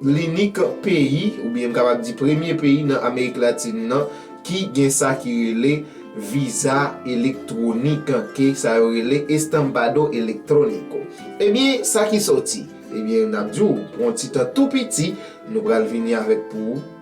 Linik peyi, oubyen m kapab di premye peyi nan Amerik Latin nan ki gen sa ki rele viza elektwonik, ke sa yo rele estampado electrónico. Ebyen, sa ki sòti? Ebyen, n ap di w, pran yon ti tan tou piti, nou pral vini avèk pou ou.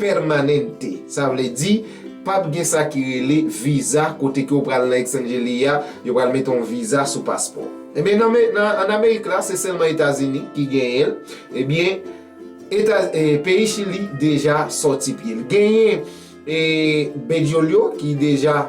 Permanente, sa vle di, pap gen sa ki rele viza kote ke ou pral nan Exangeli a, yo pral mete yon viza sou paspò. Ebyen nan me, nan, an Amerik la, se sèlman Etazini ki genyen l, ebyen, Eta, e, peyi Chili deja sòti pye l. Genyen, e, Bediolio ki deja.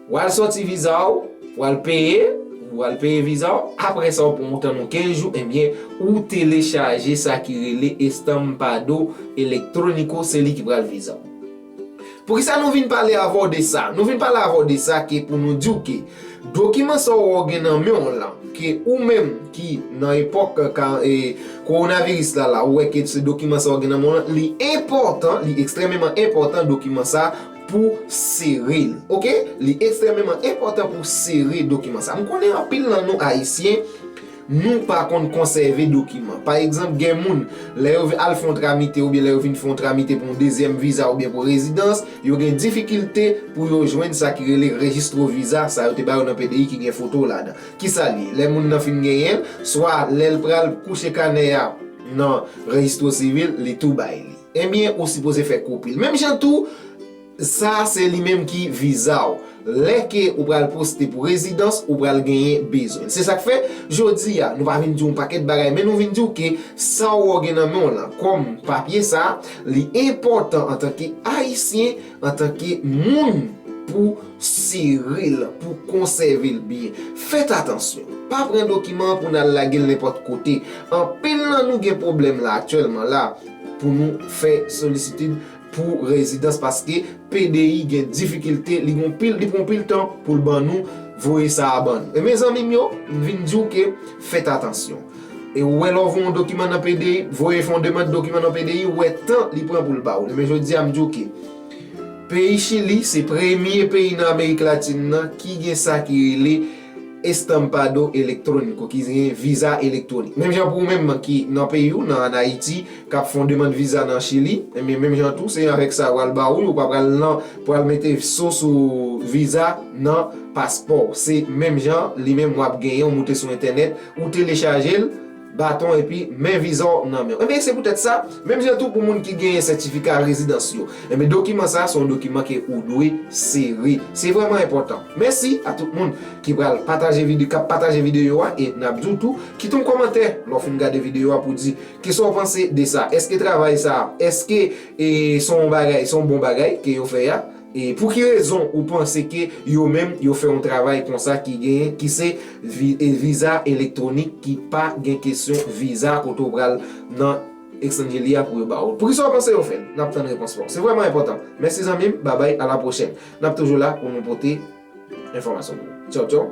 Wal soti viza w, wal peye, wal peye viza w, apre sa w pran yon tan yon 15 jou ebyen ou telechaje sa ki rele Estampado Electrónico se li ki pral viza w. Poukisa nou vin pale avè w de sa? Nou vin pale avè w de sa ke pou nou di w ke dokiman sa w wè w gen nan men w lan ke ou menm ki nan epòk Kowonaviris la la ou wè ke se dokiman sa w gen nan men w lan li enpòtan, li ekstrèmeman enpòtan dokiman sa pou sere l ok li ekstrememan enpòtan pou sere dokiman sa m konnen anpil nan nou ayisyen nou pa konn konsève dokiman pa egzanp gen moun lè yo al fon tramite oubyen lè yo vin fon tramite pou yon dezyèm viza oubyen pou rezidans yo gen difikilte pou yo jwenn sa ki rele rejistro viza sa yo te ba yo nan pdi ki gen foto w ladan ki sa li ye lè moun nan fin genyen l swa lè l pral kouche kanè a nan rejistro sivil li tou bay li. Ebyen ou sipoze fè kopil. Menm jan tou sa se li menm ki viza w. Lè ke ou pral poste pou rezidans ou pral genyen bezwen. Se sak fè jodi a nou pa vin di w pakèt bagay men nou vin di w ke sa w gen nan men w lan kòm papye sa li enpòtan antanke ayisyen antanke moun pou sere l pou konsève l byen. Fèt atansyon. Pa pran dokiman pou nan lage l nenpòt kote. Anpil nan nou gen pwoblèm la aktyèlman la. pou nou fè solicitude pou rezidans paske PDI gen difikilte li gon pil li pran pil tan poul ban nou voye sa a ban nou e mezanmi m yo m vin di w ke fèt atansyon e ou wè lè w voye yon dokiman nan PDI voye fè yon demand dokiman nan PDI ou wè tan li pran poul ba w li men jodi a m di w ke peyi chili se premye peyi nan amerik latin nan ki gen sa ki rele Estampado Electrónico ki gen viza elektwonik. Menm jan pou ou menm ki nan peyi ou, nan an Ayiti, k ap fè yon demand viza nan Chili, enben menm jan tou se avèk sa yo al ba ou l, ou pa pral nan pou al mete so sou viza nan paspò w. Se menm jan li menm w ap genyen, ou moute sou entènèt, ou telechaje l. baton epi men viza w nan men w. Enben, se poutèt sa, menm jan tou pou moun ki genyen sètifika rezidans yo, enben dokiman sa a se yon dokiman ke ou dwe sere. Se vrèman enpòtan. Mèsi a tout moun ki pral pataje vide, k ap pataje videyo a e n ap di w tou, kite yon kòmantè lè w fin gade videyo a pou w di kisa w panse de sa. Èske travay sa a, èske e se yon bagay, se yon bon bagay ke yo fè a? E pou ki rezon ou panse ke yo menm yo fè yon travay konsa ki gen, ki se viza elektwonik ki pa gen kesyon viza kote ou pral nan Exangeli a pou yo ba ou l? Pou ki sa ou panse yo fè l? N ap tann repons pa ou. Se vrèman enpòtan. Mèsi zanmi m, babay a la pwochèn. N ap toujou la pou nou pote enfòmasyon pou ou. Tchaw tchaw.